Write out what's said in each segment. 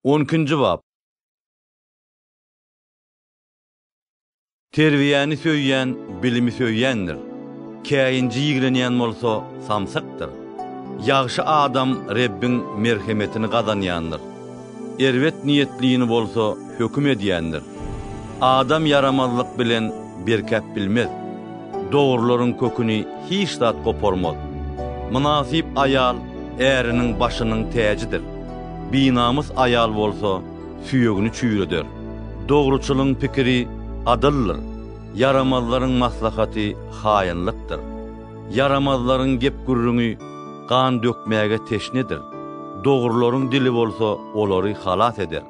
On ikinji bap. Terbiýäni söýýän bilimi söýýändir. Käýinji ýigrenýän bolsa samsykdyr. Ýagşy adam Rebbiň merhemetini gazanýandyr. Erbet niýetlini bolsa höküm edýändir. Adam ýaramazlyk bilen berkäp bilmez. Dogrularyň köküni hiç zat goparmaz. Mynasyp aýal äriniň başynyň täjidir. Binamys aýal bolsa süýegini çüýreder. Dogruçylyň pikiri adyldyr, ýaramazlaryň maslahaty haýynlykdyr. Ýaramazlaryň gep-gürrüňi gan dökmäge teşnedir, dogrularyň dili bolsa olary halas eder.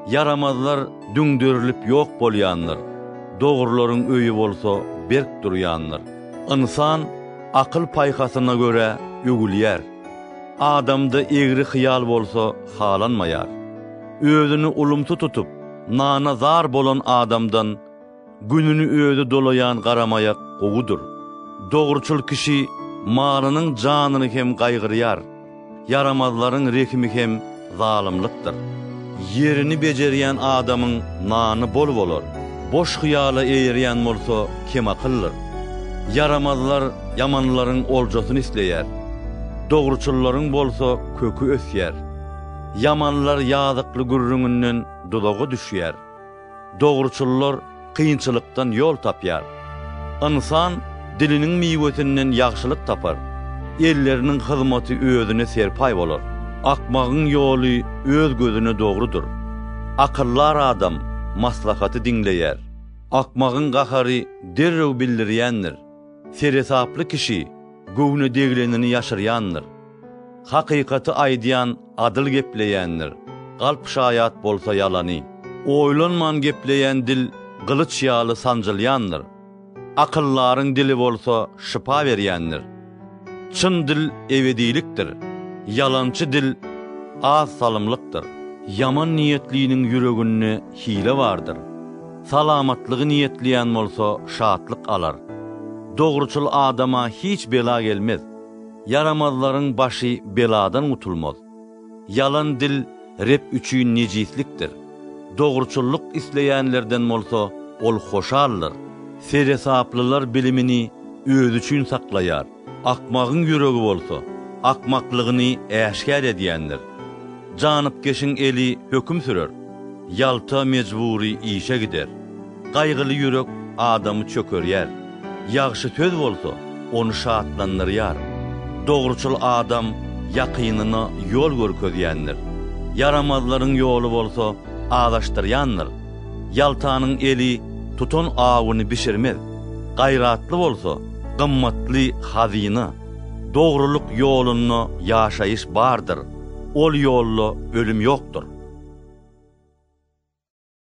Ýaramazlar düňderilip ýok bolýandyr, dogrularyň öýi bolsa berk durýandyr. Ynsan akyl-paýhasyna görä öwülýär, adamda egri hyýal bolsa halanmaýar. Özüni ulumsy tutup, nana zar bolan adamdan Gününi özi dolaýan garamaýak gowudyr. Dogruçyl kişi malynyň janyny hem gaýgyrýar, ýaramazlaryň rehimi hem zalymlykdyr. Ýerini bejerýän adamyň nany bol bolar, boş hyýala eýerýän bolsa kemakyldyr. Ýaramazlar ýamanlaryň oljasyny isleýär, dogruçyllaryň bolsa köki ösýär. Ýamanlar ýazykly gürrüňinden duzaga düşýär. Dogruçyllar kynçylykdan ýol tapýar. Ynsan diliniň miwesinden ýagşylyk tapar, elleriniň hyzmaty özüne serpaý bolar. Akmagyň ýoly öz gözüne dogrudyr, akyldar adam maslahaty diňleýär. Akmagyň gahary derrew bildirýändir. Seresaply kişi göwne deglenini ýaşyrýandyr. Hakykaty aýdýan adyl gepleýändir, galp şaýat bolsa ýalany. Oýlanman gepleýän dil gylyç ýaly sanjylýandyr. Akyldaryň dili bolsa şypa berýändir. Çyn dil ebedilikdir. Ýalançy dil az salymlykdyr. Ýaman niýetliniň ýüreginde hile bardyr. Salamatlygy niýetleýän bolsa şatlyk alar. Dogruçyl adama hiç bela gelmez. Ýaramazlaryň başy beladan gutulmaz. Ýalan dil Reb üçin nejislikdir. Dogruçyllyk isleýänlerden bolsa Ol hoşaldyr. Seresaplylar bilimini özi üçin saklaýar. Akmagyň ýüregi bolsa, akmaklygyny äşgär edýändir. Janypkeşiň eli höküm sürer, ýalta mejbury işe gider. Gaýgyly ýürek adamy çökerýär, ýagşy söz bolsa, ony şatlandyrýar. Dogruçyl adam ýakynyna ýol görkezýändir, ýaramazlaryň ýoly bolsa azaşdyrýandyr. Ýaltanyň eli tutan awyny bişirmez, gaýratly bolsa, gymmatly hazyna. Dogrulyk ýolunda ýaşaýyş bardyr, ol ýolda ölüm ýokdur.